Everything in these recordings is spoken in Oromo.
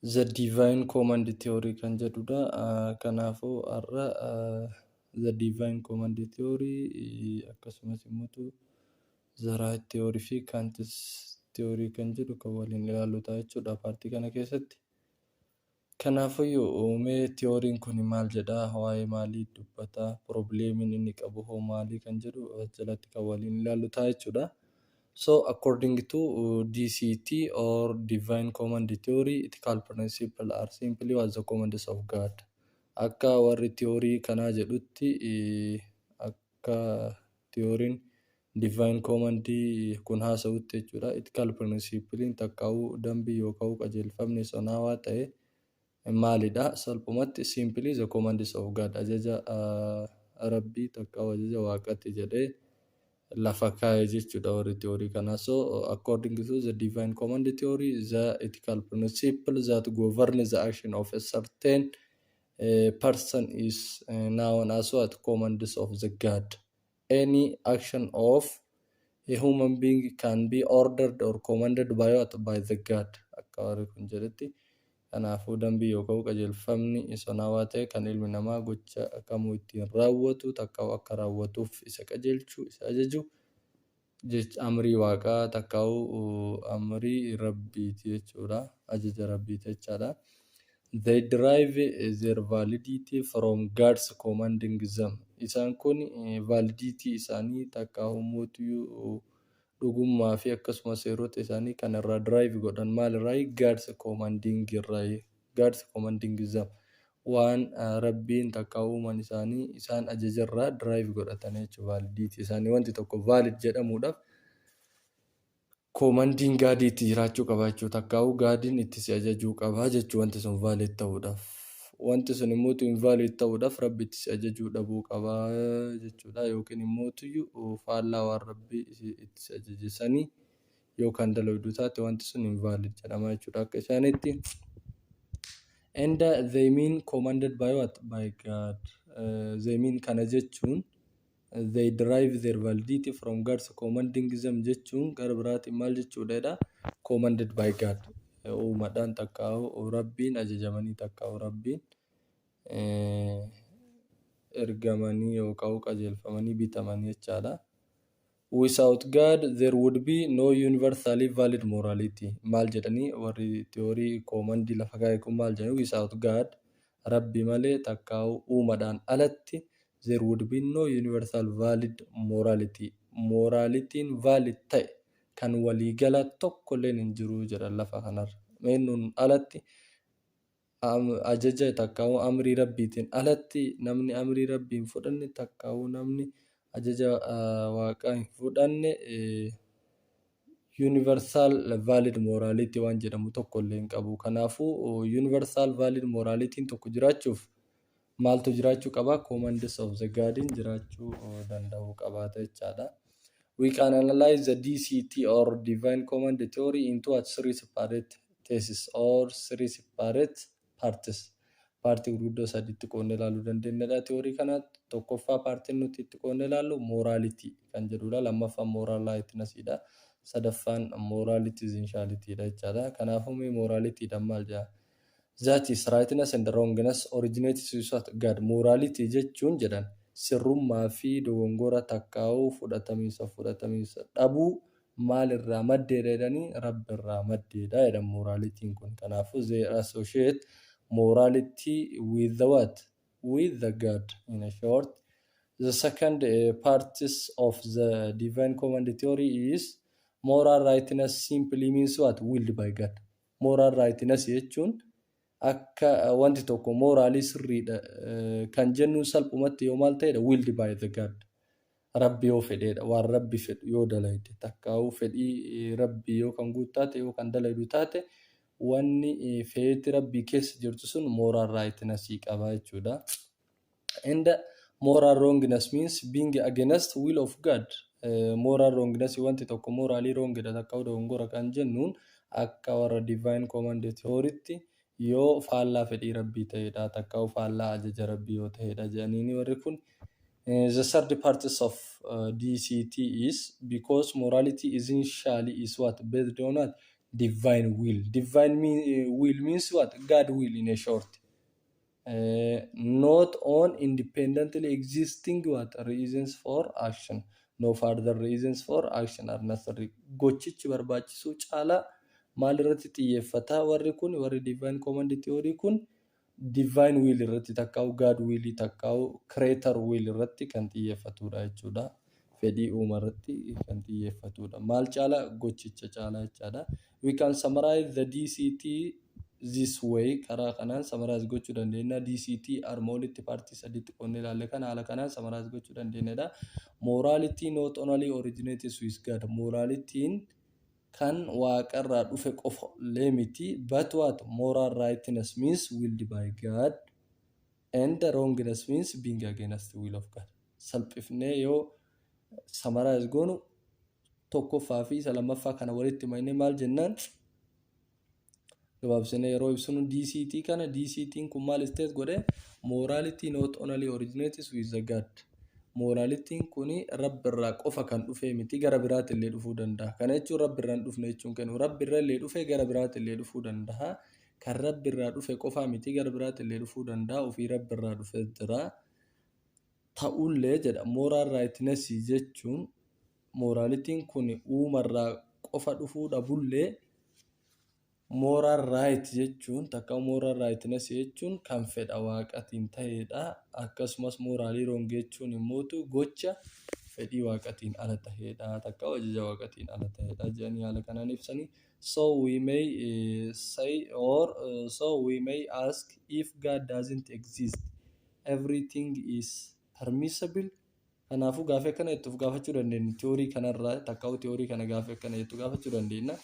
The Divine Command Theory kan jedhudha. Kanaafuu har'a The Divine Command Theory akkasumas immoo The Right Theory fi Kant's Theory kan jedhu kan waliin ilaallu ta'a jechuudha paartii kana keessatti. Kanaafuyyuu mee tiyooriin kun maal jedhaa waa'ee maalii dubbataa piroobileemiin inni qabu hoo maalii kan jedhu jalatti kan waliin ilaallu ta'a jechuudha. So according to DCT or Divine Command Theory, ethical principles are simply as the commands of God. Akka warri tiyoorii kanaa jedhutti akka tiyooriin Divine Command kun haasa'utti jechuudha. Ethical principle'n takkaa'uu dambii yookaan qajeelfamni sonaawaa ta'e maalidha? Salphumatti, simply, the commands of God, ajaja Rabbii takkaa'u ajaja Waaqati jedhee lafa kaa'e jechuudha warri theory kanaa. So, according to the divine command theory, the ethical principle that governs the action of a certain person is known as what? Commands of the God. Any action of a human being can be ordered or commanded by what? By the God. Akka warri kun jedhetti kanaafuu dambii yookaan qajeelfamni isonaawaa ta'e kan ilmi namaa gocha kamuu ittiin raawwatu takkaa'u akka raawwatuuf isa qajeelchu, isa ajaju Jechi amrii Waaqaa takkaa'uu amrii Rabbiiti jechuudha. Ajaja Rabbiiti jechaadha. They derive their validity from God's commanding them. Isaan kun validity isaanii takkaa'ummootiyuu dhugummaa fi akkasuma seerota isaanii kan irraa derive godhan maalirraayi? God's commanding irraayi. God's commanding is them, waan Rabbiin takkaa uumaan isaanii isaan ajajerraa derive godhatanii jechuudha, validity isaanii wanti tokko valid jedhamuudhaaf commanding God itti jiraachuu qaba jechuudha, takkaa'uu God'n itti si ajajuu qaba jechuudha wanti sun valid ta'uudhaaf. Wanti sun immoo tu invalid ta'uudhaaf Rabbi itti si ajajuu dhabuu qaba jechuudha yookiin immoo tuyyu faallaa waan Rabbi itti si ajaje sanii yoo kan daloydu taate wanti sun invalid jedhama jechuudha akka isaanitti and uh, they mean commanded by what by god uh, they mean kana jechuun they derive their validity from god's commanding them jechuun gara biraatiin maal jechuudha jedha commanded by god uumadhaan takkaa'u rabbiin ajajamanii takkaa'u rabbiin eh, ergamanii yookaan qajeelfamanii bitamanii jechaadha Without God there would be no universally valid morality maal jedhani warri theory koomandii lafa kaa'e kun maal jedhani without God rabbi malee takkaa'u uumadhaan alatti there would be no universal valid morality moraalitiin valid ta'e kan waliigala tokkolleen hin jiru jedhan lafa kanarra meennuun alatti ajaja takkaawuu amrii rabbiitiin alatti namni amrii rabbii hin fudhanne takkaawuu namni ajaja waaqaa hin fudhanne universal valid morality waan jedhamu tokko illee hin qabu. Kanaafuu universal valid morality tokko jiraachuuf maaltu jiraachuu qaba? Commands of the Guardian jiraachuu danda'uu qabaata jechaadha. We can analyze the DCT or Divine Command Theory into a three separate thesis or three separate parts. Paartii gurguddoo sadiitti qoodne ilaaluu dandeenyadha. Tiyoorii kana tokkoffaa paartiin nuti itti qoodne ilaallu mooraaliti kan jedhudha. Lammaffaan mooraal laayitinasidha. Sadaffaan mooraaliti zinshaalitidha jechaadha. Kanaafuu mee mooraalitiidhaan maal jedha? That is, rightness and wrongness originates without God, morality jechuun jedhan sirrummaa fi dogongora takkaahuu fudhatamiinsa fi fudhatamiinsa dhabuu maal irraa maddeedha jedhanii Rabbi irraa maddeedha jedhan moraalitiin kun. Kanaafuu they associate morality with the what? With the God. In a short, the second parts of the divine command theory is moral rightness simply means what? Willed by God. Moral rightness jechuun akka wanti tokko moraalii sirriidha kan jennuun salphumatti yoo maal ta'edha willed by the God. Rabbi yoo fedheedha waan rabbi fedhu yoo dalayde takkaa'uu fedhii rabbi yoo kan guut taate yoo kan dalaydu taate wanni feeti rabbii keessa jirtu sun moral rightness qaba jechuudha. and moral wrongness means being against will of God Eh, moral wrongness wanti tokko moraalii wrongdha takka dogongora kan jennuun akka warra divine command theorytti yoo faallaa fedhii rabbii ta'edha takka faallaa ajaja rabbii yoo ta'edha jedhaniini warri kun Eh, the third parts of uh, DCT is because morality essentially is what based on what divine will. Divine mean, uh, will means what God will in a short. Not on independently existing what reasons for action no further reasons for action are necessary gochichi barbaachisuu caalaa maal irratti xiyyeeffata warri kun warri divine command theory kun divine will irratti takkaa'u God will takkaa'u creator will irratti kan xiyyeeffatudha jechuudha. fedhii uuma irratti kan xiyyeeffatudha. Maal caala? Gochicha caala jechaadha. We can summarize the DCT this way karaa kanaan summarize gochuu dandeenya. DCT arma olitti paartii sadiitti qoodne ilaalle kana haala kanaan summarize gochuu dandeenyadha. Morality not only originates with God. Moraalitiin kan waaqarraa dhufe qofa illee miti. But what? Moral rightness means willed by God. And the wrongness means being against the will of God. Salphifnee yoo summarize goonu tokkoffaa fi isa lammaffaa kana walitti maynee maal jennaan gabaabsinee yeroo ibsinu DCT kana DCT'n kun maal state godhe morality not only originates with the God. Moralitiin kun rabbi irraa qofa kan dhufee miti gara biraatti illee dhufuu danda'a. Kana jechuun rabbi irraa hin dhufne jechuun kennu. Rabbi irra illee dhufee gara biraatti illee dhufuu danda'a. kan Rabbi irraa dhufe qofaa miti gara biraatillee dhufuu danda'a ofii Rabbi irraa dhufe jira ta'ullee jedha moral rightness jechuun moraalitiin kun uumarraa qofa dhufuu dhabullee moral right jechuun takka moral rightness jechuun kan fedha waaqatiin ta'eedha akkasumas moraalii wrong jechuun immootu gocha fedhii waaqatiin ala ta'eedha takka ajaja waaqatiin ala ta'eedha jedhanii haala kanaan ibsanii So we may say or so we may ask if God doesn't exist everything is permissible kanaafuu gaafii akkana jettuuf gaafachuu dandeenya tiyoorii kanarraa takkaa'uu tiyoorii kana gaafii akkana jettu gaafachuu dandeenya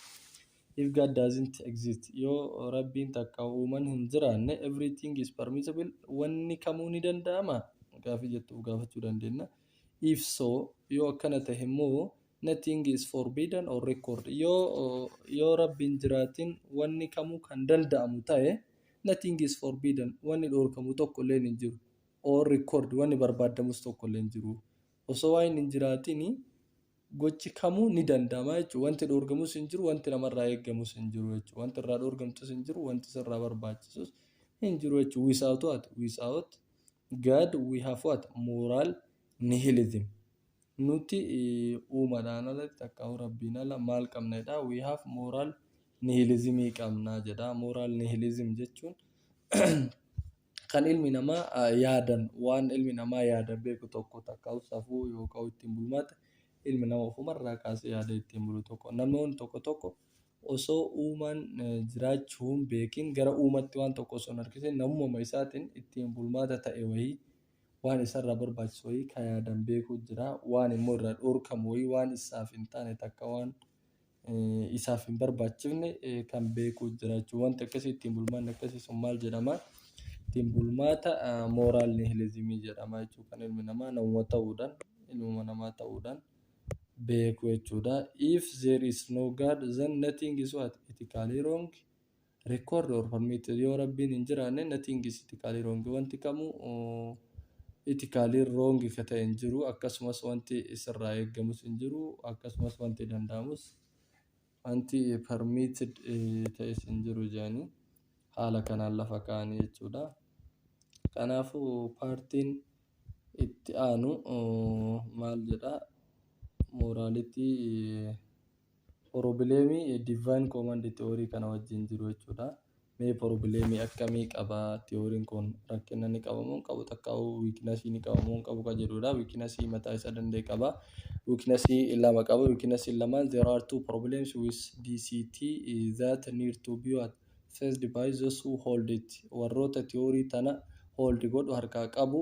if God doesn't exist yoo rabbiin takka uuman hin jiraanne everything is permissible wanni kamuu ni danda'ama gaafii jettuuf gaafachuu dandeenya if so yoo akkana ta'e immoo Nothing is forbidden or record. Yoo, yoo Rabbi hin jiraatin wanni kamuu kan danda'amu ta'e, nothing is forbidden, wanni dhoorkamu tokko illee hin jiru. Or record, wanni barbaadamus tokko illee hin jiru. Osoo waan hin jiraatin gochi kamuu ni danda'ama jechuudha. Wanti dhoorgamus hin jiru, wanti namarraa eegamus hin jiru jechuudha. Wanti irraa dhoorgamtus hin jiru, wanti sirraa barbaachisus hin jiru jechuudha. Without what? Without God we have what? Moral nihilism. Nuti uumadhaan ala takkaahuu Rabbiin ala maal qabna jedha. We have moral nihilism qabna jedha. Moral nihilism jechuun kan ilmi namaa yaadan waan ilmi namaa yaada beeku tokko takkaahuu safuu yookaan ittiin bulmaata ilmi nama ofumarraa kaasee yaada ittiin bulu tokko. Namoonni tokko tokko osoo uumaan jiraachuu hin beekin gara uumatti waan tokko osoo hin harkisin namumama isaatiin ittiin bulmaata ta'e wayii Waan isarraa barbaachisu wayii ka yaadan beekuu jira. Waan immoo irraa dhoorkamu wayii waan isaaf hin taane takka waan isaaf hin barbaachifne kan beekuu jira jechuudha. Wanti akkasii ittiin bulmaanni akkasii sun maal jedhama? Ittiin bulmaata mooraal nihilizimii jedhama jechuudha. Kan ilmi namaa namuma ta'uudhaan ilmuma namaa ta'uudhaan beeku jechuudha. If there is no God then nothing is what? Ethically wrong. Record or permitted yoo rabbiin hin jiraanne nothing is ethically wrong wanti kamuu ethically wrong ka ta'e hin jiru akkasumas wanti sirraa eeggamus hin jiru akkasumas wanti danda'amus wanti permitted ta'es hin jiru jedhanii haala kanaan lafa kaa'anii jechuudha. Kanaafuu paartiin itti aanu maal jedha mooraalitii Porobileemii Divine Command Theory kana wajjin jiru jechuudha. Mee porobileemii akkamii qaba theory'n kun rakkina ni qaba moo hin qabu takkaa'uu wiiknasii ni qaba moo hin qabu kan jedhudha. Wiiknasii mataa isaa danda'e qaba. Wiiknasii lama qaba. Wiiknasiin lamaan there are two problems with DCT that need to be what faced by those who hold it warroota theory tana hold godhu, harkaa qabu,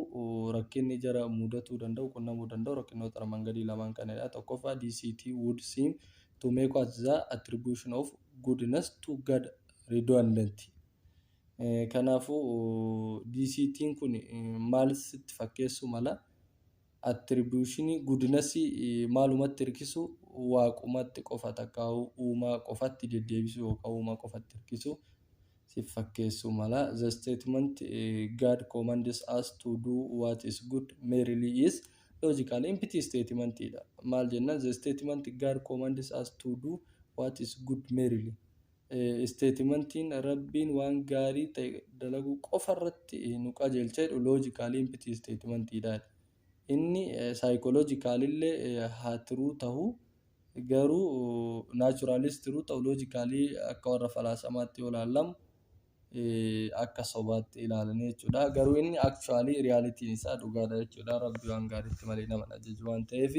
rakkinni jara muudatuu danda'u, qunnamuu danda'u rakkinoota armaan gadii lamaan kanadha. Tokkoffaa DCT would seem to make at the attribution of goodness to God redundant. Kanaafuu DCTn kun maal sitti fakkeessuu mala? Attribution Goodness maalumatti hirkisu waaqumatti qofa takka uumaa qofatti deddeebisu yookaan uumaa qofatti hirkisu sif fakkeessuu mala. The statement God commands us to do what is good merely is logically empty statement dha. Maal jenna? The statement God commands us to do what is good merely. Isteetimantiin Rabbiin waan gaarii ta'e dalaguu qofa irratti nu qajeelcha jedhu loojikaalii impitii isteetimantiidhaani. Inni saayikooloojikaalillee haa tiruu tahu, garuu naachuraaliis tiruu tahu loojikaalii akka warra falaasamaatti yoo laallamu, akka sobaatti ilaalanii jechuudha. Garuu inni actually realitiin isaa dhugaadha jechuudha. Rabbi waan gaariitti malee nama hin ajaju waan ta'eef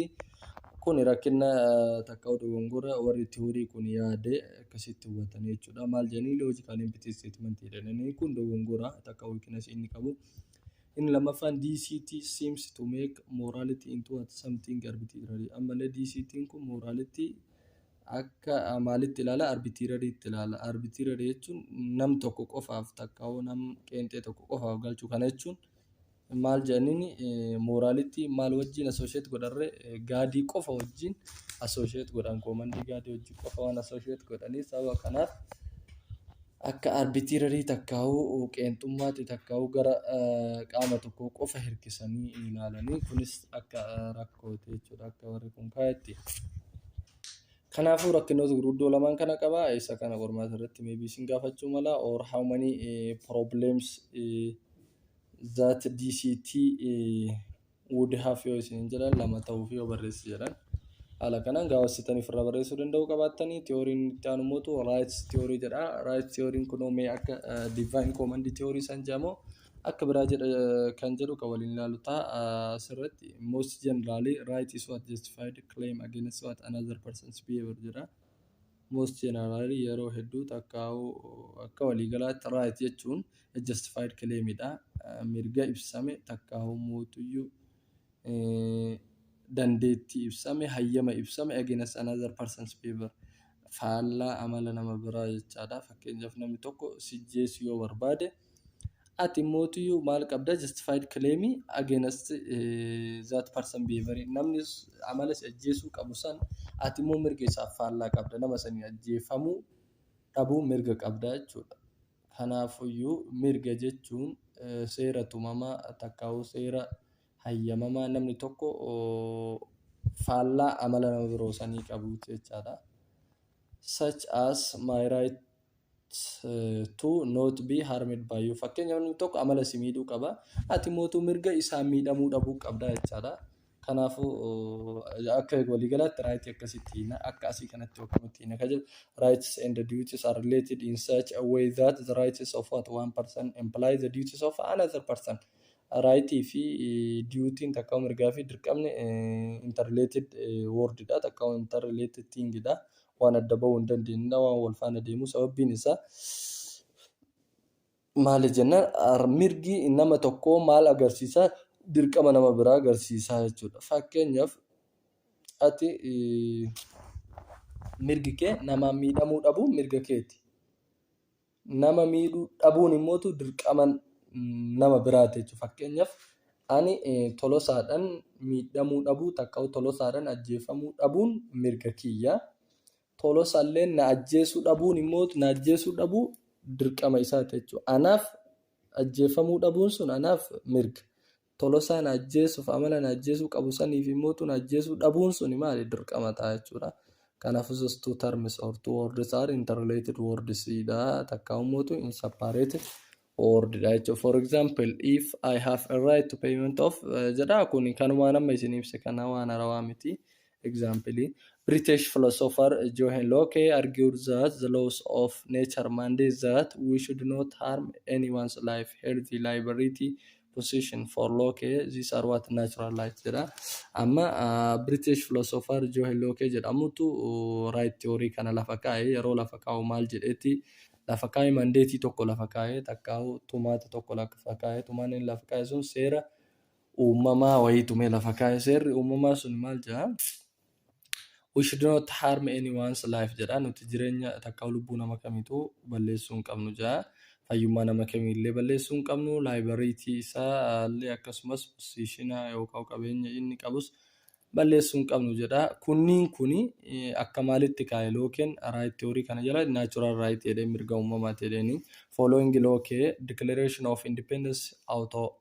kun rakkina takka dogongora warri tiyoorii kun yaade akkasitti hubatan jechuudha. Maal jedhanii logical empty statement jedhanii kun dogongora takka weakness inni qabu. Inni lammaffaan DCT seems to make morality into what something arbitrary. Ammallee DCT'n kun morality Akka maalitti ilaala? Arbitiirariitti ilaala. Arbitiirari jechuun nam tokko qofaaf takkaawuu nam qeenxee tokko qofaaf galchuu kana jechuun maal jedhaniin mooraalitti maal wajjin asoosheet godharre gaadii qofa wajjin asoosheet godhan koomandii gaadii wajjin qofa waan asoosheet godhanii sababa kanaaf akka arbitirary takkaahuu qeenxummaatti takkaahuu gara qaama tokko qofa hirkisanii ilaalanii kunis akka rakkooti jechuudha akka warri kun kaayetti. Kanaafuu rakkinoota gurguddoo lamaan kana qaba isa kana qormaata irratti maybe isin gaafachuu mala or how many problems that DCT would have yoo isin jedhan lama ta'uu fi yoo barreessi jedhan haala kanaan gaawwassitanii ofirraa barreessuu danda'uu qabaattanii tiyooriin itti aanu mootu raayits tiyoorii jedha raayits tiyooriin kunoo mee akka divaayin koomandii tiyoorii san jedhamoo akka biraa jedha kan jedhu kan waliin ilaalu ta'a asirratti most generally right is what justified claim against what another person's behavior jedha. most generally yeroo hedduu takkaa'u akka waliigalaatti right jechuun a justified claim dha mirga ibsame takkaa'u mootuyyuu eh, dandeettii ibsame hayyama ibsame against another person's favor faallaa amala nama biraa jechaadha fakkeenyaaf namni tokko sijjeessu yoo barbaade Ati mootiyyuu maal qabda justified claim against that person behavior namni amala si ajjeesuu qabu san ati immoo mirga isaaf faallaa qabda nama sanii ajjeefamuu dhabuu mirga qabda jechuudha. Kanaafuyyuu mirga jechuun seera tumamaa takkaa'uu seera hayyamamaa namni tokko faallaa amala nama biroo sanii qabuuti jechaadha. Such as my right. to not be harmed by you fakkeenyaaf namni tokko amala si miidhuu qaba ati mootuu mirga isaan miidhamuu dhabuu qabda jechaadha kanaafuu akka waliigalaatti raayitii akkasitti hiina akka asii kanatti yookiinutti hiina ka jedhu rights and duties are related in such a way that the rights of what one person imply the duties of another person raayitii fi duutiin takka mirgaa fi dirqamni interrelated wordidha takka interrelated thingidha waan adda ba'uu hin dandeenyedha waan wal faana deemu sababbiin isaa maali jennaan mirgi nama tokkoo maal agarsiisa dirqama nama biraa agarsiisa jechuudha fakkeenyaaf ati mirgi kee namaan miidhamuu dhabu mirga keeti. nama miidhuu dhabuun immoo dirqama nama biraati jechuudha. Fakkeenyaaf ani tolosaadhaan miidhamuu dhabuu takkaawu tolosaadhaan ajjeefamuu dhabuun mirga kiyya. Tolosalleen na ajjeesuu dhabuun immoo na ajjeesuu dhabuu dirqama isaati jechuudha. Anaaf ajjeefamuu dhabuun sun anaaf mirga. Tolosaa na ajjeesuuf amala na ajjeesuu qabu saniif immoo tun ajjeesuu dhabuun suni maali dirqama ta'a jechuudha. Kanaafus those two terms or two words are interrelated words dha takka immoo tu in separated word dha jechuudha. For example if I have a right to payment of eh, jedha kun kanumaan amma isin ibse kana waan harawaa miti. Example, British philosopher Johann Locke argued that the laws of nature mandate that we should not harm anyone's life, health, liberty, position. For Locke, these are what natural rights jedha. Amma ah, British philosopher Johann Locke jedhamutu uh, right theory kana lafa kaa'e. Yeroo lafa kaa'u maal jedheeti? Lafa kaa'e mandeetii tokko lafa kaa'e, takkaahu tumaata tokko lafa kaa'e. Tumaan inni lafa kaa'e sun seera uumamaa wayii tumee lafa kaa'e. Seerri uumamaa sun maal jedha? We should not harm anyone's life jedha. Nuti jireenya takkaa lubbuu nama kamiituu balleessuu hin qabnu jedha. Fayyummaa nama kamiillee balleessuu hin qabnu. Laayibariitii isaa illee akkasumas posiishina yookaan qabeenya inni qabus balleessuu hin qabnu jedha. Kunniin kuni eh, akka maalitti kaa'e lookeen raayit tiyoorii kana jala naachuraal raayit jedhee mirga uumamaati jedheeni. Following lookee declaration of independence auto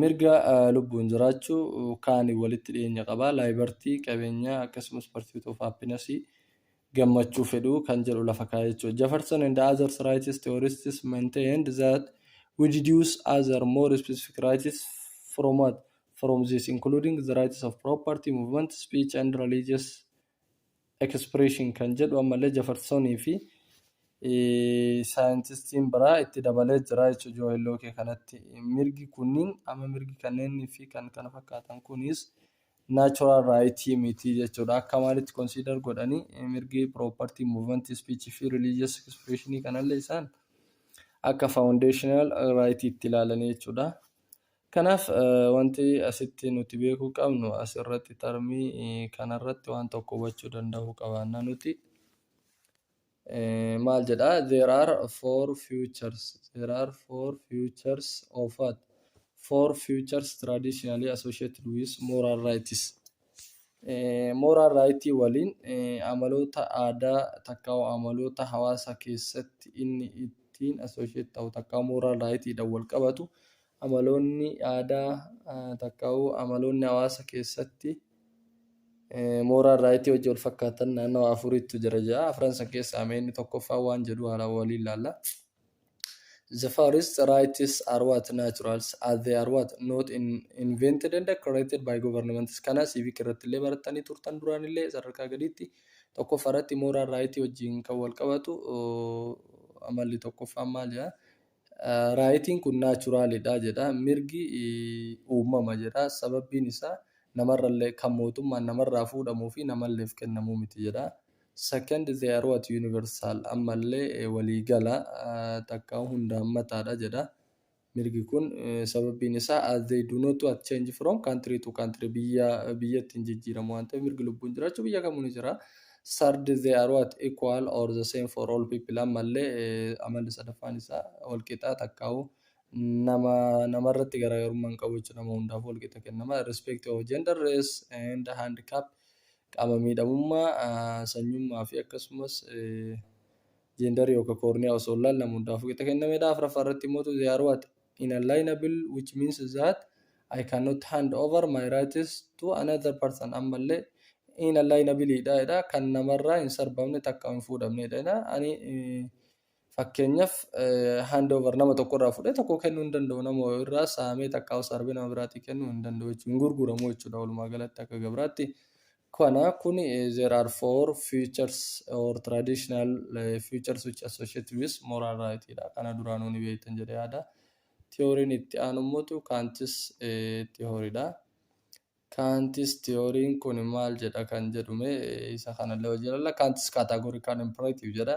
Mirga lubbuun jiraachuu kaaniin walitti dhiyeenya qaba. Laaybartii, qabeenyaa, akkasumas parsuit of happinasii, gammachuu fedhuu, kan jedhu lafa kaa'e jechuudha. Jefferson and others rights theorists maintained that we deduce other more specific rights from what? From this including the rights of property, movement, speech and religious expression kan jedhu ammallee Jefferson fi saayintistiin biraa itti dabalee jira jechuudha Joohel Lookee kanatti. Mirgi kunniin amma mirgi kanneenii fi kan kana fakkaatan kunis natural right miti jechuudha. Akka maalitti consider godhanii mirgi property movement speech fi religious expression kanallee isaan akka foundational right itti ilaalanii jechuudha. Kanaaf wanti asitti nuti beekuu qabnu as irratti tarmii kana irratti waan tokko hubachuu danda'uu qabaanna nuti. Maal jedha there are four futures there are four futures of what four futures traditionally associated with moral rights. Moral right waliin amaloota aadaa takka amaloota hawaasa keessatti inni ittiin associate ta'u takka moral right dhaan wal qabatu amaloonni aadaa takkaawuu amaloonni hawaasa keessatti mooraa irraayitii hojii wal fakkaatan naannoo afuriitu jira ja'a. Afran san keessaa mee inni tokkoffaa waan jedhu haala waliin laalla. The first rights are what naturals as they are what not in, invented and created by governments. Kana civic irratti illee barattanii turtan duraan illee sadarkaa gadiitti tokkoffaa irratti mooraa irraayitii wajjin kan wal qabatu amalli tokkoffaan maal jedha? Raayitiin kun naachuraalidha jedha. Mirgi uumama jedha. Sababbiin isaa namarrallee kan mootummaan namarraa fuudhamuu fi namalleef kennamu miti jedha. Second, they are what universal ammallee waliigala takka hundaammataadha jedha. Mirgi kun sababbiin isaa as they do not what change from country to country biyyaa biyyatti hin jijjiiramu waan ta'eef mirgi lubbuun jiraachuu biyya kamuu ni jira. Third, they are what? Equal or the same for all people. Ammallee eh, amalli sadaffaan isaa walqixa takkaawu nama namarratti garaagarummaa hin qabu jechuudha. Nama hundaafuu walqixa kennama. Irrespective of gender, race and handicap qaama miidhamummaa, ah, sanyummaa fi akkasumas eh, jeendarii yookaan koorniyaa osoo hin laalle nama hundaafuu qixa kennamedha. Afraffaa irratti immoo they are what? inalienable which means that I cannot hand over my rights to another person ammallee inalienable dha jedha kan namarraa hin sarbamne takka hin fuudhamne jedha ani fakkeenyaaf hand over nama tokko irraa fudhee tokko kennuu hin danda'u nama irraa saamee takka sarbee nama biraatii kennuu hin danda'u jechuudha hin gurguramu jechuudha walumaa galatti akka gabraatti Kana kun there are four futures or traditional futures which associate with moral right dha. Kana duraanuu ni beektan jedhee yaada. Tiyooriin itti aanu immoo kaantis tiyooriidha. Kaantis tiyooriin kun maal jedha kan jedhume isa kanallee hojii ilalla. Kaantis categorical imperative jedha.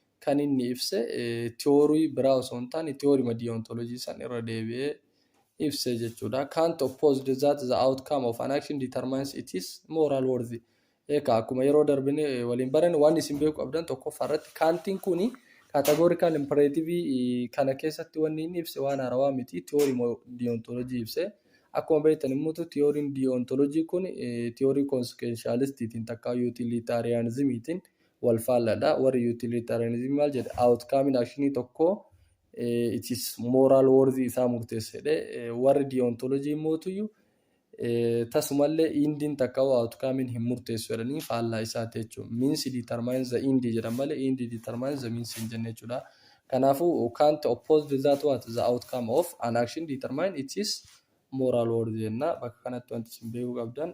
kan inni ibse theory biraa osoo hin taane theory ma deontology san irra deebi'ee ibse jechuudha. Kant opposed that the outcome of an action determines its moral worth. Eekaa akkuma yeroo darbine waliin barane waan isin beeku qabdan tokkoffaa irratti kaantiin kuni categorical imperative kana keessatti wanni inni ibse waan haarawaa miti theory ma deontology ibse. Akkuma beektan immoo theory deontology kun theory consequentialist tiin takkaa utilitarianism tiin wal faalladha. Warri utilitarianism maal jedhe? Outcome actionii tokkoo eh, it is moral worthy isaa murteessa jedhe. Eh, Warri deontology immoo tuyyu eh, tasumallee indiin takka hoo outcome hin murteessu jedhanii faallaa isaati jechuudha. Means determines the end jedhan malee end determines the means hin jenne jechuudha. Kanaafuu Kant opposed that what the outcome of an action determine it is moral worthy jenna. Bakka kanatti wanti isin beekuu qabdan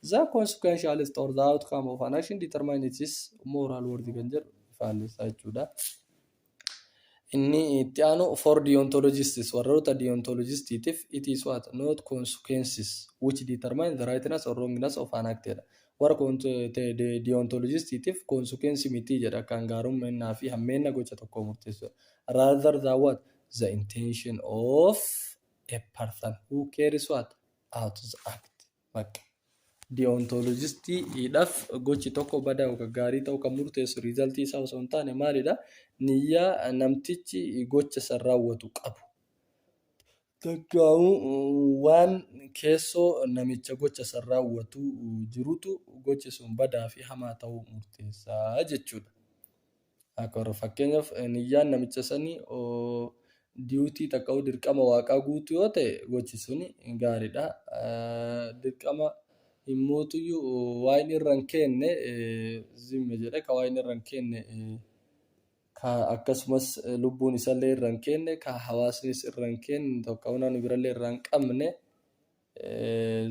The consequentialist or the outcome of an action determine its moral worth kan jedhu faallessaa jechuudha. Inni itti aanu for deontologists warroota deontologistiitiif it is what not consequences which determine the rightness or wrongness of an act jedha. Warra deontologistiitiif consequence miti jedha kan gaarummaa fi hammeenna gocha tokko murteessudha. Rather than what the intention of a person who carries what out the act. Bakka. Deontolojistiidhaaf gochi tokko badaa yookaan gaarii ta'uu kan murteessu riizaltii isaa osoo hin taane maalidha? Niyyaa namtichi gocha san raawwatu qabu. Takkaawuu waan keessoo namicha gocha san raawwatu jirutu gochi sun badaa fi hamaa ta'uu murteessa jechuudha. Akbar. Fakkeenyaaf niyyaan namicha sanii duty takka huu dirqama waaqaa guutu yoo ta'e gochi suni gaariidha. Dirqama hin mootuyyu waan irra hin keenne zimme jedhe ka waan irra hin keenne ka akkasumas lubbuun isallee irra hin keenne ka hawaasnis irra hin keenne tokkawuu namni birallee irraa hin qabne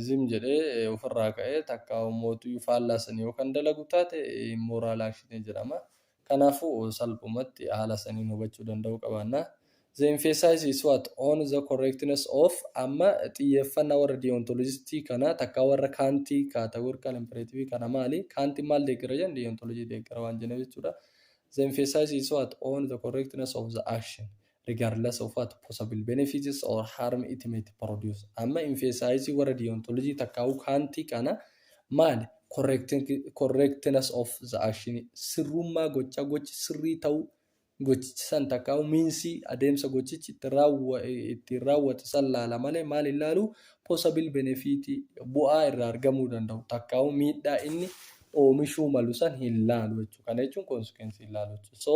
zim jedhee ofirraa ka'ee takkaa ummootuyyuu faallaa sanii yoo kan dalagu taate immoraal action jedhama. Kanaafuu salphumatti haala saniin hubachuu danda'uu qabaanna. The emphasis is what? On the correctness of amma xiyyeeffannaa warra deontologistii kana takkaa warra kaantii categorical imperative kana maali? Kaantiin maal deeggara jedhan deontology deeggara waan jenna jechuudha. The emphasis is what? On the correctness of the action. regardless of what possible benefits or harm it might produce. Amma emphasize warra deontology takkaa'uu kaantii kana maali? Correct- Correctness of the action sirrummaa gochaa gochi sirrii ta'uu gochichi san takkaa'uu miinsii adeemsa gochichi ittiin raawwa- ittiin raawwate san laala malee maal hin laalu? Possible benefit bu'aa irraa argamuu danda'u takkaa'uu miidhaa inni oomishuu malu san hin laalu jechuudha. Kana jechuun consequence hin laalu jechuudha. So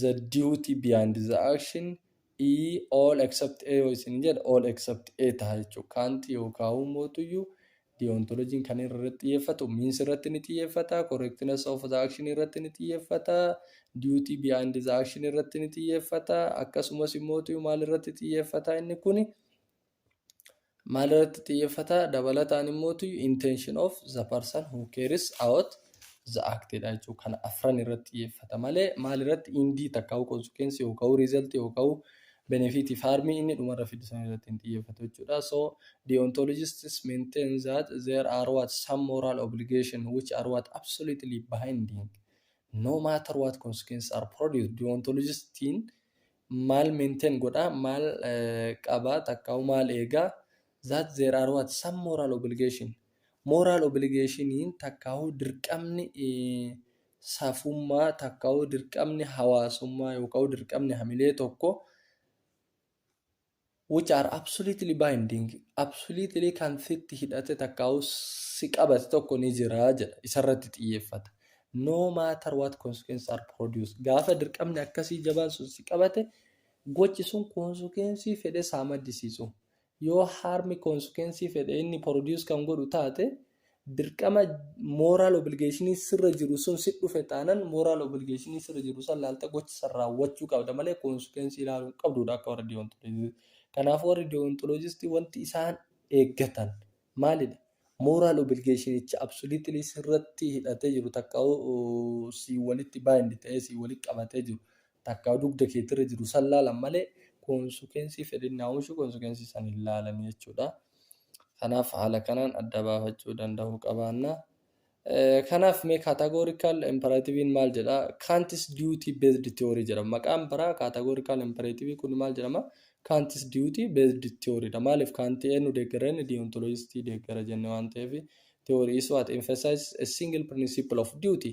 the duty beyond the action e all except a yoo isin jedhe all except a taha jechuudha kaanti yookaan mootuyyuu deontologiin kan irratti xiyyeeffatu means irratti ni xiyyeeffata correctness of the action irratti ni xiyyeeffata duty beyond the action irratti ni xiyyeeffata akkasumas immootu maal irratti xiyyeeffata inni kun maal irratti xiyyeeffata dabalataan immoo intention of the person who cares about the act dha jechuudha kana afran irratti xiyyeeffata malee maal irratti indii takka consequence yookaan result yookaan benefit faarmii inni dhumarra fidu san irratti hin xiyyeeffatu jechuudha so deontologists maintain that there are what some moral obligation which are what absolutely binding no matter what consequences are produced deontologistiin maal maintain godha, maal qaba takkaahu maal eega that there are what some moral obligation moral obligation takkaahu dirqamni safummaa takkaahu dirqamni hawaasummaa yookaahu dirqamni hamilee tokko which are absolutely binding, absolutely kan sitti hidhate takkaa'u si qabate tokko ni jira jedha. Isarratti xiyyeeffata. No matter what consequences are produced. Gaafa dirqamni akkasii jabaan sun si qabate, gochi sun konsukeensii fedhe saa maddisiisu. Yoo harmi konsukeensii fedhe inni produce kan godhu taate, dirqama moral obligation sirra jiru sun si dhufe taanan moral obligation sirra jiru san laalta gocha san raawwachuu qabda malee consequence ilaaluu hin qabduudha akka warra deontologist kanaaf warri deontologist wanti isaan eeggatan maalidha moral obligation icha absolutely sirratti hidhatee jiru takka si walitti bind ta'ee si walitti qabatee jiru takka dugda keetti irra jiru san laalan malee koonsukeensii fedhinnaa oomishuu koonsukeensii san hin laalan jechuudha. Kanaaf haala kanaan adda baafachuu danda'uu qabaanna. Kanaaf mee kaatagoorikaal imperativiin maal jedha? Kaantis diyuutii beezdi tiyoorii jedhama. Maqaan biraa kaatagoorikaal imperativii kun maal jedhama? Kaantis diyuutii beezdi tiyooriidha. Maaliif kaantii eenyu deeggara inni diyoontoloojistii deeggara jenne waan ta'eef tiyoorii isuu at emphasizes a single principle of duty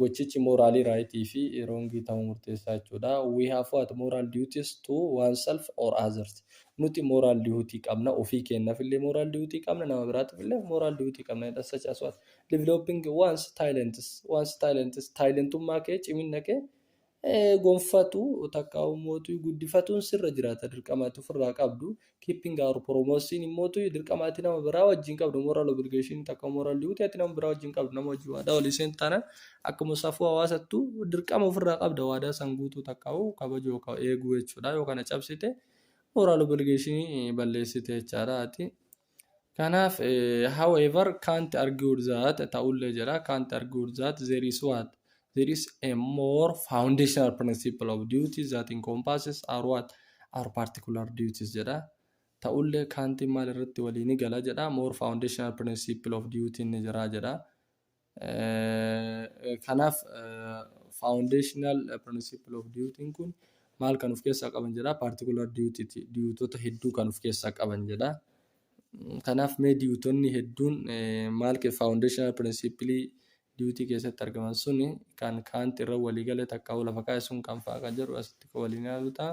Gochichi mooraalii right fi wrong ta'uu murteessaa jechuudha. We have what moral duties to oneself or others. Nuti moral duty qabna, ofii keenyaaf illee moral duty qabna, nama biraatiif illee moral duty qabna jedha. Such as what? Developing one's talents. One's talents. Taalentummaa kee, ciminna kee gonfatu takka ummootu guddifatuun sirra jiraata dirqama itti ofirraa qabdu keeping our promotion immootu dirqama ati nama biraa wajjin qabdu moral obligation takka moral duty ati nama biraa wajjin qabdu nama wajjin waadaa walii seentu taana akkuma safuu hawaasattu dirqama ofirraa qabda waadaa san guutuu takka kabajuu yookaan eeguu jechuudha yoo kana cabsite moral obligation balleessite jechaadha ati Kanaaf, however, can't argued that ta'ullee jedha can't argued that there is what there is a more foundational principle of duties that encompasses our what our particular duties jedha. Ta'ullee kaantiin maal irratti walii ni gala jedha more foundational principle of duty ni jira jedha. Kanaaf foundational principle of duty kun maal kan of keessaa qaban jedha particular duty ti duutota hedduu kan of keessaa qaban jedha. Kanaaf mee duutonni hedduun eh, maal ke foundational principle duty keessatti argaman suni kan kaanti irra walii gale takka lafa kaa'e sun kan fa'a kan jedhu asitti kan waliin ilaalu ta'a.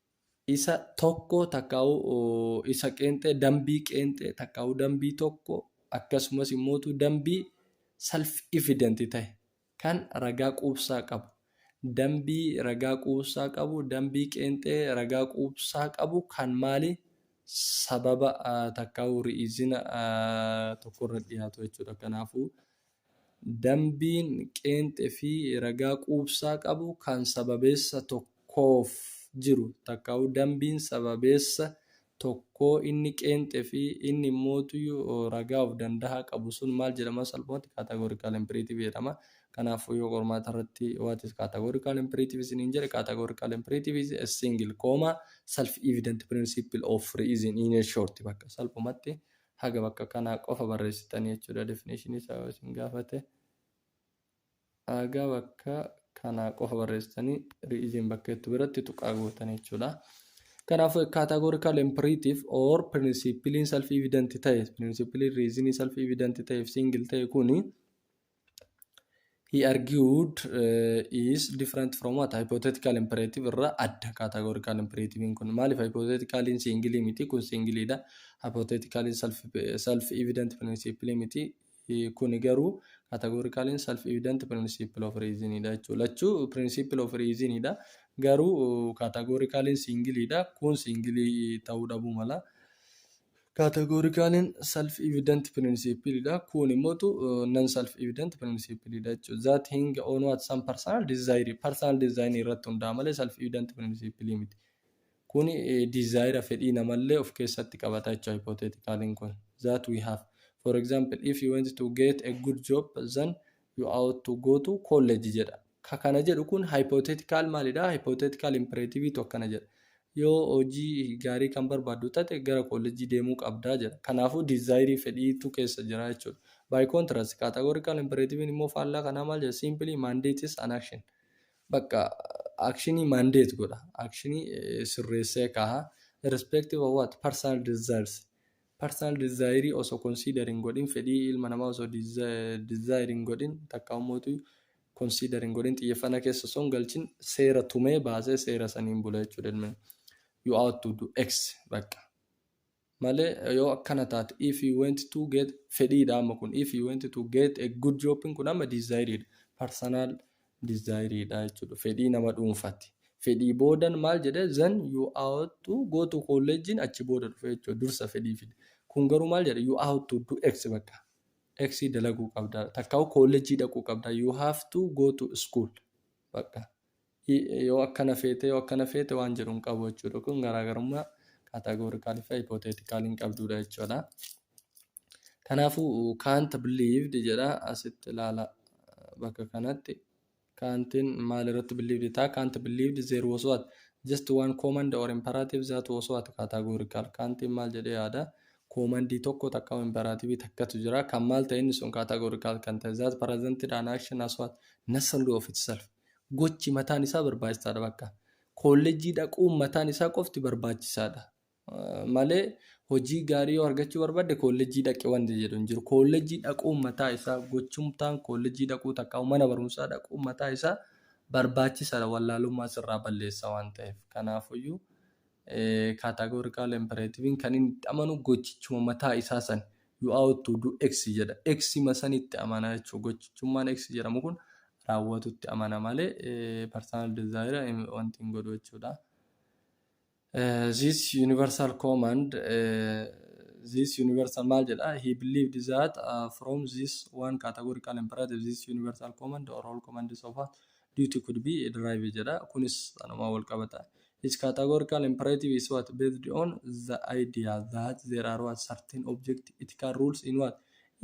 isa tokko takkaa'u isa qeenxee dambii qeenxee takkaa'u dambii tokko akkasumas immootu dambii self evident ta'e kan ragaa quubsaa qabu dambii ragaa quubsaa qabu dambii qeenxee ragaa quubsaa qabu kan maali sababa takkaa'u ri'izina tokko irra dhiyaatu jechuudha kanaafuu Dambiin qeenxe fi ragaa quubsaa qabu kan sababeessa tokkoof jiru takkaa'uu dambiin sababeessa tokkoo inni qeenxe fi inni immootuyu ragaa of dandahaa qabu sun maal jedhama salphumatti categorical imperative jedhama. Kanaafuu yoo qormaata irratti what is categorical imperative isiniin jedhe categorical imperative is a single comma self evident principle of reason in a short bakka salphumatti haga bakka kanaa qofa barreessitanii jechuudha definition isaa yoo isin gaafate haga bakka kanaa qofa barreessitanii ri'iziin bakka jettu biratti tuqaa gootan jechuudha. Kanaafuu categorical imperative or principiliin self evident ta'e principiliin riizinii self evident ta'eef single ta'e kuni He argued uh, is different from what? Hypothetical imperative irra adda categorical imperative kun. Maaliif hypotheticaliin singilii miti kun singiliidha. Hypotheticaliin self, self evident principle miti eh, kuni garuu categoricaliin self evident principle of reason dha jechuudha. Lachuu principle of reason dha. Garuu categoricaliin singiliidha kun singilii ta'uu dhabuu mala. Kaatagoorikaaleen self evident principle dha. Kun immoo non self evident principle dha jechuudha. That hinge on what some personal desire personal desire irratti hundaa'a malee self evident principle miti. Kun desire fedhii namallee of keessatti qabata jechuudha hypotheticaliin kun. That we have. For example, if you want to get a good job then you ought to go to college jedha. Ka kana jedhu kun hypothetical maalidha? Hypothetical imperative tu akkana jedha. Yoo hojii gaarii kan barbaaddu tate gara koolleejjii deemuu qabda jedha. Kanaafuu desire fedhiitu keessa jira jechuudha. By contrast, categorical imperative immoo faallaa kanaa maal jedha? Simply mandates an action. Bakka actionii mandate godha. Actionii eh, sirreessee kaaha. Irrespective of what? Personal desires. Personal desire osoo consider hin godhin, fedhii ilma namaa osoo desi- desire hin godhin, takka ummootu consider hin godhin xiyyeeffannaa keessa osoo hin galchin seera tumee baasee seera saniin bula jechuudha ilmi you out to do x bakka malee yoo akkana taate if you went to get fedhiidha amma kun if you went to get a good job kun amma desire dha personal desire dha jechuudha fedhii nama dhuunfati fedhii boodan maal jedhe then you out to go to college achi booda dhufe jechuudha dursa fedhii fide kun garuu maal jedhe you out to do x bakka X dalaguu qabda takkaa'u koollejjii dhaquu qabda you have to go to school bakka yoo akkana feete yoo akkana feete waan jedhu hin qabu jechuudha kun garaagarummaa kaataagoorikaalii fi hipooteetikaalii hin qabduudha jechuudha. Kanaafuu can't believed jedha asitti ilaala bakka kanatti Kantin maal irratti believed taa? Kant believed there was what? Just one command or imperative that was what? Categorical. Kantin maal jedhee yaada? Koomandii tokko takka imperaativii takkatu jira. Kan maal ta'e inni sun categorical kan ta'e. That presented an action as what? Necessary of itself. Gochi mataan isaa barbaachisaadha bakka. Koolleejjii dhaquun mataan isaa qofti barbaachisaadha. malee hojii gaarii yoo argachuu barbaadde koollejjii dhaqi wanti jedhu hin jiru. Koollejjii dhaquun mataa isaa gochumtaan koollejjii dhaquu takka mana barumsaa dhaquun mataa isaa barbaachisaadha wallaalummaa sirraa balleessa waan ta'eef. Kanaafuyyuu kaatagoorikaal impereetiviin kan inni itti amanu gochichuma mataa isaa san you out to do x jedha. X ma san itti amana jechuudha. Gochichummaan x jedhamu kun raawwatutti amana malee personal desire wanti hin godhu jechuudha. This universal command this universal maal jedha he believed that uh, from this one categorical imperative this universal command or all commands of a duty could be derived jedha kunis anuma wal qabata each categorical imperative is what based on the idea that there are what certain object ethical rules in what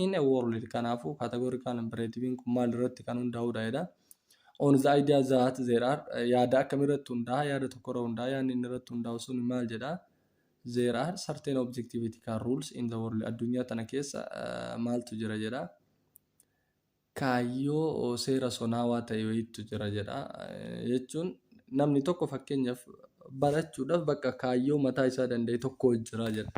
in a world kanaafu categorical imperative kun maal irratti kan hundaa'udha jedha on the idea that there are eh, yaada akkamii irratti hundaa'a yaada tokko irra hundaa'a yaadni inni irratti hundaa'u sun maal jedha there are certain objectivity kan rules in the world addunyaa tana keessa eh, maaltu jira jedha kaayyoo oh, seera sonaawaa ta'e wayiitu jira jedha Eh, jechuun namni tokko fakkeenyaaf barachuudhaaf bakka kaayyoo mataa isaa danda'e tokko jira jedha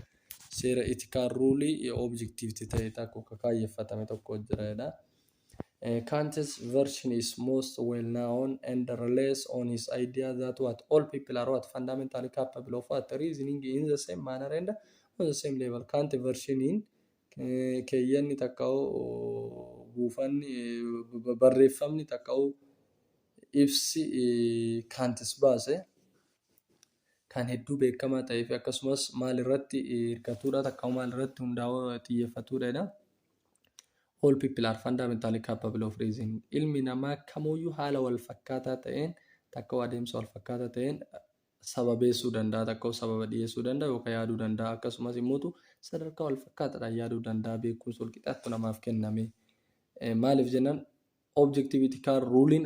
seera itikaan ruulii objectivity ta'e tokko kaayyeffatame tokko jira jedha. Kant's version is most well known and relies on his idea that what all people are what fundamentally capable of what reasoning in the same manner and on the same level. Kant vershiniin keeyyanni takka'u buufanni barreeffamni takka'u ibsi kaantis baase kan hedduu beekamaa ta'ee fi akkasumas maal irratti hirkatuudha takka'u maal irratti hundaa'uu xiyyeeffatuudha jedha. All people are fundamentally capable of reason. Ilmi namaa kamuyyuu haala wal fakkaataa ta'een takkoo adeemsa wal fakkaataa ta'een sababeessuu danda'a, takkoo sababa dhiyeessuu danda'a yookaan yaaduu danda'a. Akkasumas immoo sadarkaa wal fakkaataadhaan yaaduu danda'a. Beekumsi wal qixaattu namaaf kenname. Maaliif jennaan objectivity car ruling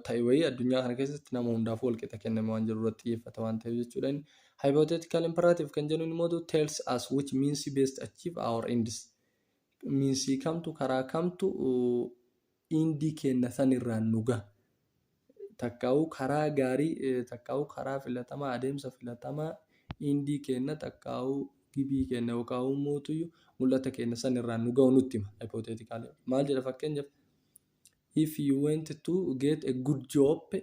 ta'e wayii addunyaa kana keessatti nama hundaaf wal qixa kenname waan jiru irratti xiyyeeffata waan ta'eef jechuudha inni hypothetical imperative kan jennuun immoo tells us which means best achieve our ends miinsii kamtu karaa kamtu indii kenna san irraan nu gaha takkaahuu karaa gaarii takkaahuu karaa filatamaa adeemsa filatamaa indii keenna takkaahuu gibii keenna yookaahuu mootuyyuu mul'ata keenna san irraan nu ga'u nutti hima hypothetical maal jedha fakkeenyaaf if you went to get a good job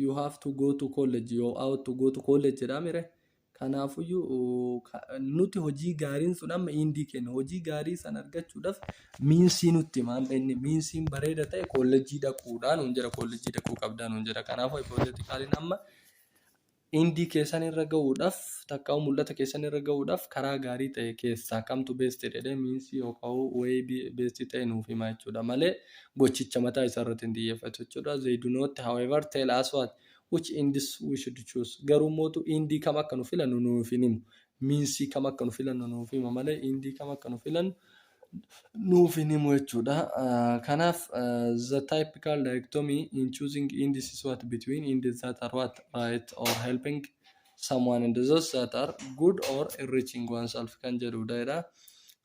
you have to go to college you have to go to college jedhaa mire Kanaafuyyuu, nuti hojii gaariin sun amma indii kenna. Hojii gaarii san argachuudhaaf miinsii nutti hima. Amma inni miinsiin bareeda ta'e koolleejjii dhaquudhaan nuun jira. Koolleejjii dhaquu qabdaa nuun jira. Kanaafuu hipooteetikaaliin amma indii keessan irra ga'uudhaaf takkaa'uu mul'ata keessan irra ga'uudhaaf karaa gaarii ta'e keessaa kamtu beestii jedhee miinsii yookaan wayii beestii ta'e nuuf hima jechuudha malee gochicha mataa isaa irratti hin xiyyeeffatu jechuudha. They do not however tell us what which ends we should choose garuu mootu indii kam akka nu filannu nuuf hin himu miinsii kam akka nu filannu nuuf hima malee indii kam akka nu filannu nuuf hin himu jechuudha kanaaf the typical dichotomy in choosing indies is what between indies that are what right or helping someone and those that are good or enriching oneself kan jedhudha jedha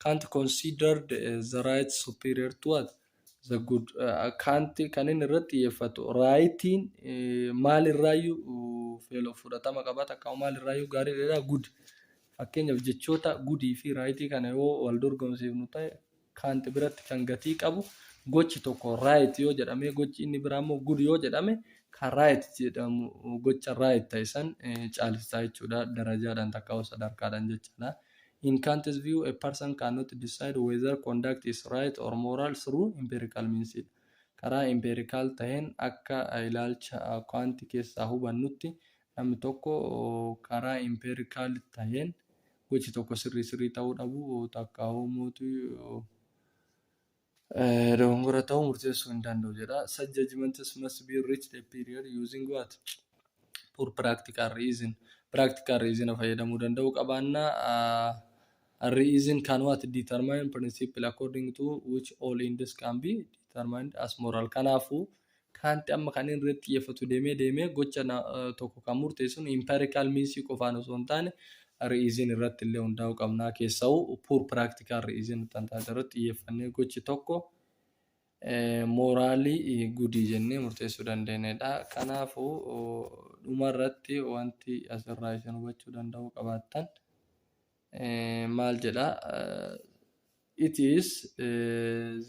can't considered as the right superior to what the good uh, kanti kan inni irratti xiyyeeffatu raayitiin eh, maalirraayyuu feeloo fudhatama qaba takka maalirraayyuu gaarii dheeraa good fakkeenyaaf jechoota gudii fi raayitii kana yoo wal dorgomsiifnu ta'e kanti biratti kan gatii qabu gochi tokko raayit yoo jedhame gochi inni biraa immoo good yoo jedhame kan raayit jedhamu gocha raayit ta'e san eh, caalsisaa jechuudha darajaadhaan takka sadarkaadhaan jechaadha. In Kant's view, a person cannot decide whether conduct is right or moral through empirical means dha. Karaa empirical taheen akka ilaalcha Kant keessaa hubannutti namni tokko karaa empirical taheen gochi tokko sirrii sirrii tahuu dhabuu takkaahuu mootuu Dogongora ta'uu murteessuu hin danda'u jedha. Such judgments must be reached a period using what? Poor practical reason. Practical reason fayyadamuu danda'uu qabaanna. Uh, reason can what determine principle according to which all ends can be determined as moral. Kanaafuu Kaanti amma kan inni irratti xiyyeeffatu deemee deemee gocha tokko kan murteessuun empirical means qofaan osoo hin taane reason irratti illee hundaa'uu qabnaa keessa'u pure practical reason kan taate irratti xiyyeeffannee gochi tokko mooraalii gudii jennee murteessuu dandeenyedha. Kanaafuu dhuma irratti wanti asirraa isin hubachuu danda'uu qabaattan. maal jedha it is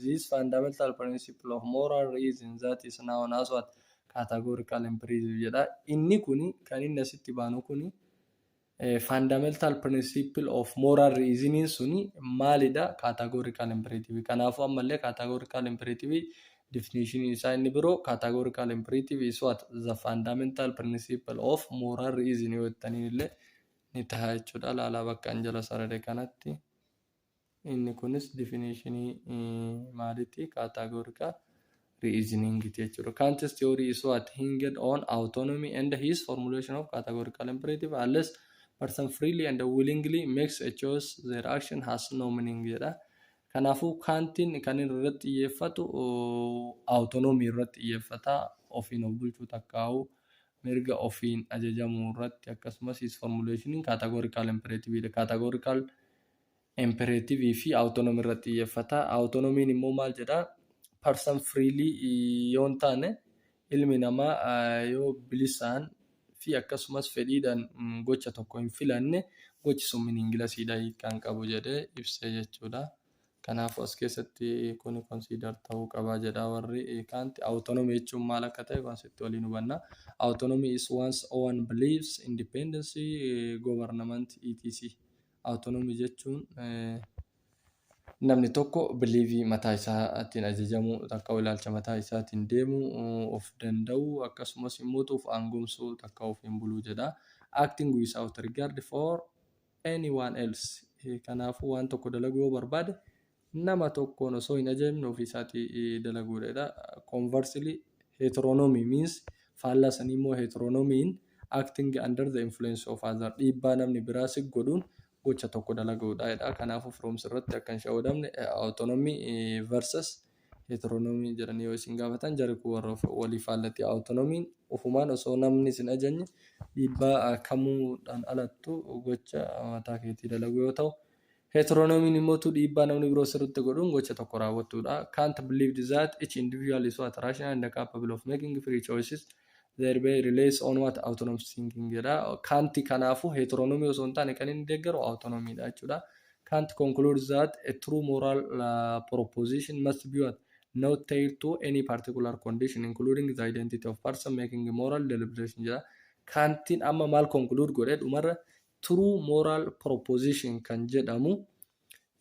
this fundamental principle of moral reason that is known as what categorical empiricism jedha inni kun kan inni asitti baanu kun fundamental principle of moral reason suni maalidha categorical imperative kanaafuu ammallee categorical imperative definition isaa inni biroo categorical imperative is what the fundamental principle of moral reason yoo jettaniin illee ni taha jechuudha. Laalaa bakka an jala sarare kanatti inni kunis difinishinii maaliti kaataagorikaa reasoning ti jechuudha. Kant's theory is what hinged on autonomy and his formulation of categorical imperative unless person freely and willingly makes a choice their action has no meaning jedha. Kanaafuu kaantiin kan inni irratti xiyyeeffatu autonomy irratti xiyyeeffata ofiin of bulchuu takkaa'u mirga ofiin ajajamuu irratti akkasumas his formulation in categorical imperative dha. Categorical imperative fi autonomy irratti xiyyeeffata. Autonomy immoo maal jedha? Person freely yoo hin taane ilmi namaa yoo bilisaan fi akkasumas fedhiidhaan gocha tokko hin filanne gochi sun meaningless dha hiikkaan qabu jedhee ibsee jechuudha. Kanaafuu as keessatti kuni consider ta'uu qaba jedha warri kaanti. Autonomy jechuun maal akka ta'e concept waliin hubanna. Autonomy is one's own beliefs, independence, government, etc. Autonomy jechuun namni tokko biliivii mataa isaatiin ajajamu takka ilaalcha mataa isaatiin deemu of danda'u akkasumas immoo of aangomsuu takka ofiin buluu jedha. Acting without regard for anyone else kanaafuu waan tokko dalaguu yoo barbaade nama tokkoon osoo hin ajajamne ofii isaatii dalaguudha jedha conversely heteronomy means faallaa sanii immoo heteronomy in acting under the influence of other dhiibbaa namni biraa si godhuun gocha tokko dalaguudha jedha kanaafuu firoomsi irratti akka hin shawadamne autonomy versus Heteronomy jedhanii yoo isin gaafatan jari kun warra walii faallati. Autonomy ufumaan osoo namni isin ajajne dhiibbaa kamuudhaan alattu gocha mataa keetii dalagu yoo ta'u, heteronomy immoo tu dhiibbaa namni biroo sirritti godhuun gocha tokko raawwattuudha. Kant believed that each individual is what rational and capable of making free choices There be relays on what autonomous thinking jedha. Kant kanaafu heteronomy osoo hin taane kan inni deeggaru autonomy dha jechuudha. Kant concludes that a true moral uh, proposition must be what? Not tied to any particular condition including the identity of person making moral deliberation jedha. Kantiin amma maal conclude godhe dhumarra true moral proposition kan jedhamu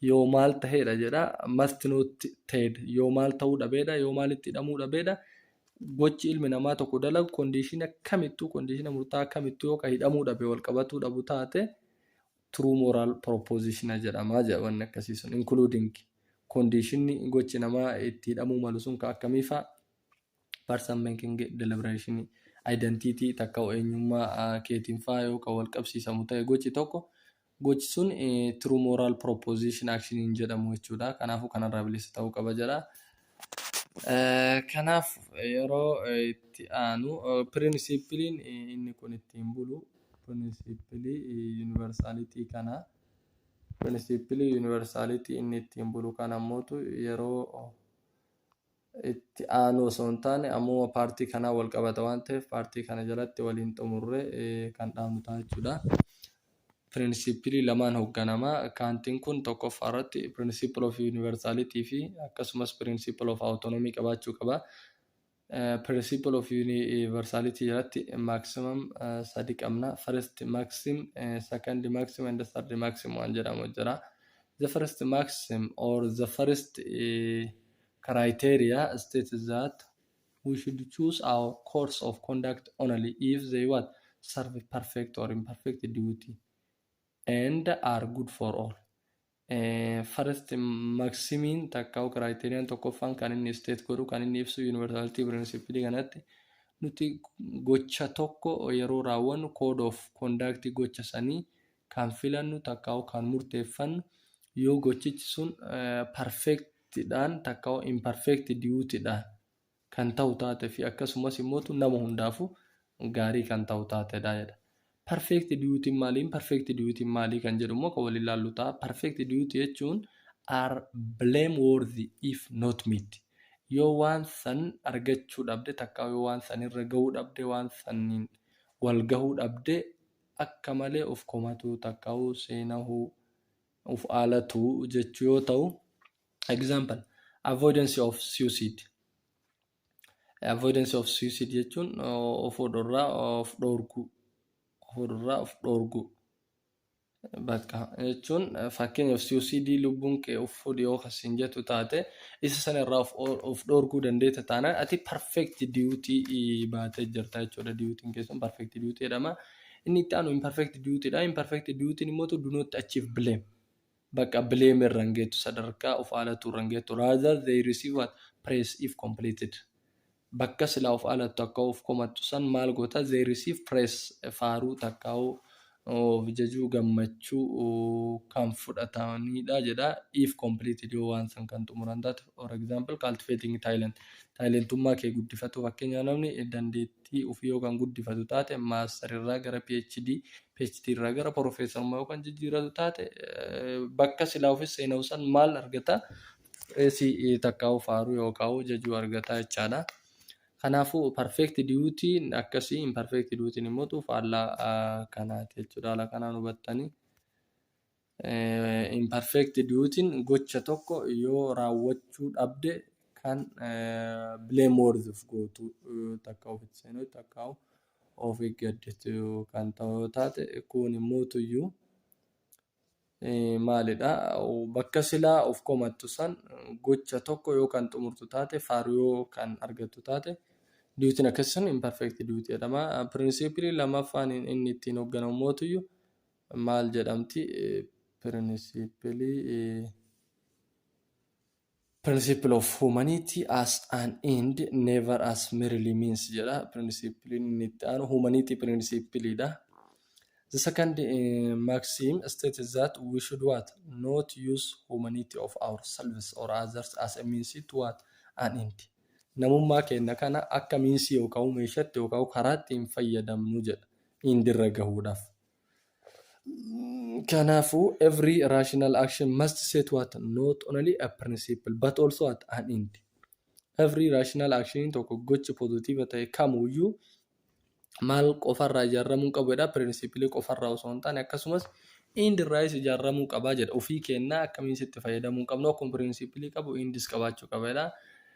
yoo maal ta'eedha jedha must not ta'ed yoo maal ta'uu dhabeedha yoo maalitti hidhamuu dhabeedha gochi ilmi namaa tokko dalagu kondiishina kamittuu kondiishina murtaa kamittuu yoo ka hidhamuu dhabe wal qabatuu dhabu taate true moral proposition jedhamaa jedha wanni akkasii sun including kondiishinni gochi namaa itti hidhamuu malu sun ka akkamiifaa person making deliberation identity takka eenyummaa keetiin faa yoo kan wal qabsiisamu ta'e gochi tokko gochi sun true moral proposition action hin jedhamu jechuudha kanaafuu kanarraa bilisa ta'uu qaba jedha. Kanaaf yeroo itti aanu pirinsipiliin inni kun ittiin bulu pirinsipilii yuunivarsaalitii kana pirinsipilii yuunivarsaalitii inni ittiin bulu kana mootu yeroo itti aanuu osoo hin taane ammuma paartii kanaan wal qabata waan ta'eef paartii kana jalatti waliin xumurree kan dhaabnu ta'a jechuudha. Piriinsiipilii lamaan hoogganamaa kaantiin kun tokkoffaa irratti piriinsiipil of yuunivarsaalitii fi akkasumas piriinsiipil of awutoonomii qabaachuu qaba. Piriinsiipil of yuunivarsaalitii jalatti maaksimaam sadi qabna. First maxim, second maxim and third maxim waan jedhamu jira. The first maxim or the first uh, criteria states that we should choose our course of conduct only if they what serve perfect or imperfect duty and are good for all. Eh, First maximiin takka criteria tokkoffaan kan inni state godhu kan inni ibsu universality principle kanatti nuti gocha tokko yeroo raawwannu code of conduct gocha sanii kan filannu takka kan murteeffannu yoo gochichi sun eh, perfect ti dhaan takka imperfect duty dhaan kan ta'u taate fi akkasumas immoo tu nama hundaafu gaarii kan ta'u taate dha jedha. Perfect duty maali imperfect duty maali kan jedhu immoo kan waliin laallu ta'a. Perfect duty jechuun are blameworthy if not meet. Yoo waan san argachuu dhabde takka yoo waan san irra gahuu dhabde waan saniin wal gahuu dhabde akka malee of komatuu takka seenahuu of alatu jechuu yoo ta'u example avoidance of suicide avoidance of suicide jechuun of dhorraa of dhoorguu of dhorraa of dhoorguu bakka jechuun fakkeenyaaf suicide lubbuun kee of fuudhi yoo kasiin jettu taate isa sana irraa of of dhoorguu dandeetta taanaan ati perfect duty baatee jirta jechuudha duty keessan perfect duty jedhama Inni itti aanu imperfect duty dha. Imperfect duty immoo to do not achieve blame. Bakka blame irra hin geettu sadarkaa of haalatuu irra hin geettu. Rather they receive what praise if completed. Bakka silaa of haalattu akka of komattu san maal goota they receive praise faaruu takkaa'uu of jajuu gammachuu kan fudhatanidha jedha if completed yoo waan san kan xumuran taate for example cultivating talent taalentummaa kee guddifatu fakkeenyaa namni dandeettii tii ofii yoo kan guddifatu taate, Master irraa gara PhD, PhD irraa gara Professorummaa yoo kan jijjiiratu taate, bakka silaa ofis seenawu san maal argata? Reesi takkaa'u faaruu yookaa'u jajuu argata jechaadha. Kanaafuu perfect duty akkasii imperfect duty immoo faallaa kanaati jechuudha. Haala kanaan hubattanii. Imperfect duutin gocha tokko yoo raawwachuu dhabde kan blameworthyf gootu takka ofitti seenuu takka of eeggaddetu kan ta'u taate kun immoo tuyyuu maalidha bakka silaa of komattu san gocha tokko yoo kan xumurtu taate faaru yoo kan argattu taate duutin akkasii sun imperfect duuti jedhama. Pirinsipilii lammaffaan inni ittiin hoogganamu mootuyyuu maal jedhamti pirinsipilii principle of humanity as an end never as merely means jedha principiliin inni itti aanu humanity principle dha the second uh, maxim states that we should what not use humanity of ourselves or others as a means to what an end namummaa keenya kana akka miinsii yookaan meeshatti yookaan karaatti hin fayyadamnu jedha indirra gahuudhaaf Kanaafu, every rational action must set what not only a principle but also at an end. Every rational action tokko gochi pozitiiva ta'e kamuyyuu maal qofarraa ijaarramuu qabu jedha pirinsipilii qofarraa osoo hin taane akkasumas end irraayis ijaarramuu qabaa jedha ofii kennaa akkamiin sitti fayyadamuu qabnu akkuma pirinsipilii qabu endis qabaachuu qaba jedha.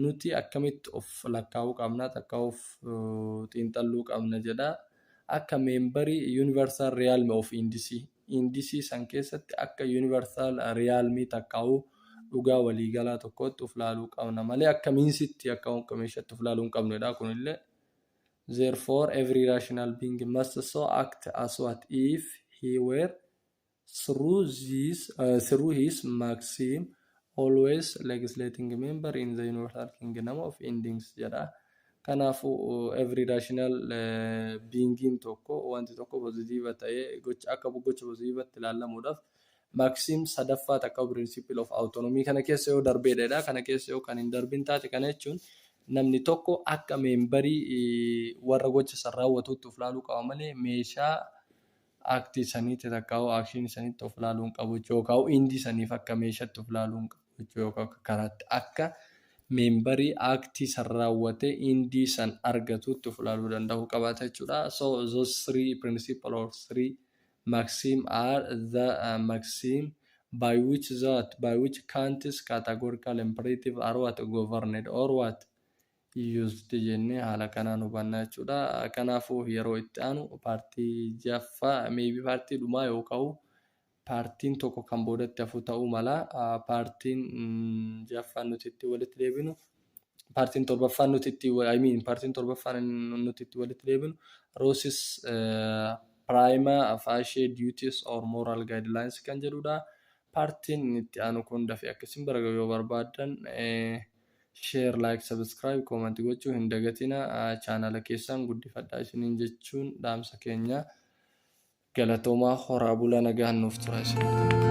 Nuti akkamitti of lakkaa'uu qabna takka of xiinxalluu qabna jedha. Akka meembarii Universal Realm of Indisi. Indisi san keessatti akka Universal Realm takkaa'uu dhugaa waliigalaa tokkootti of laaluu qabna malee akka miinsitti akka wanta meeshatti of laaluu hin qabnedha kunillee. Therefore every rational being must so act as what if he were Through this, uh, through his maxim always legislating member in the universal kingdom of endings jedha. Kanaafuu uh, every rational uh, beingin tokko wanti tokko positiiva ta'ee gocha akka gocha positiivatti ilaallamuudhaaf maxim sadaffaa takka principle of autonomy kana keessa yoo darbeedha. Kana keessa yoo kan hin darbin taate kana jechuun namni tokko akka meembarii uh, warra gocha san raawwatuutti of ilaaluu qaba malee meeshaa act saniitti takkaa'uu action saniitti of ilaaluu hin qabu jechuu yookaan indi saniif akka meeshatti of ilaaluu hin qabu jechuu yookaan akka karaatti akka meembarii act san raawwatee indi san argatuutti of ilaaluu danda'uu qabaata jechuudha. So those three principle or three maxim are the uh, maxim by which that by which countries categorical imperative are what governed or what used jennee haala kanaan hubanna jechuudha. Kanaafuu yeroo itti aanu paartii jaffaa maybe paartii dhumaa yoo ka'u paartiin tokko kan boodatti hafu ta'uu mala. Paartiin jaffaan nuti itti walitti deebinu paartiin torbaffaan nuti itti I mean paartiin torbaffaan nuti itti walitti deebinu roosis piraayima faashee duties or moral guidelines kan jedhudha. Paartiin itti aanu kun dafee akka isin baraga yoo barbaadan Share, Like, Subscribe, Comment gochuu hin dagatina chaanala keessan guddifadhaa isiniin jechuun dhaamsa keenya galatoomaa horaa bulaa nagaan nuuf tura isin.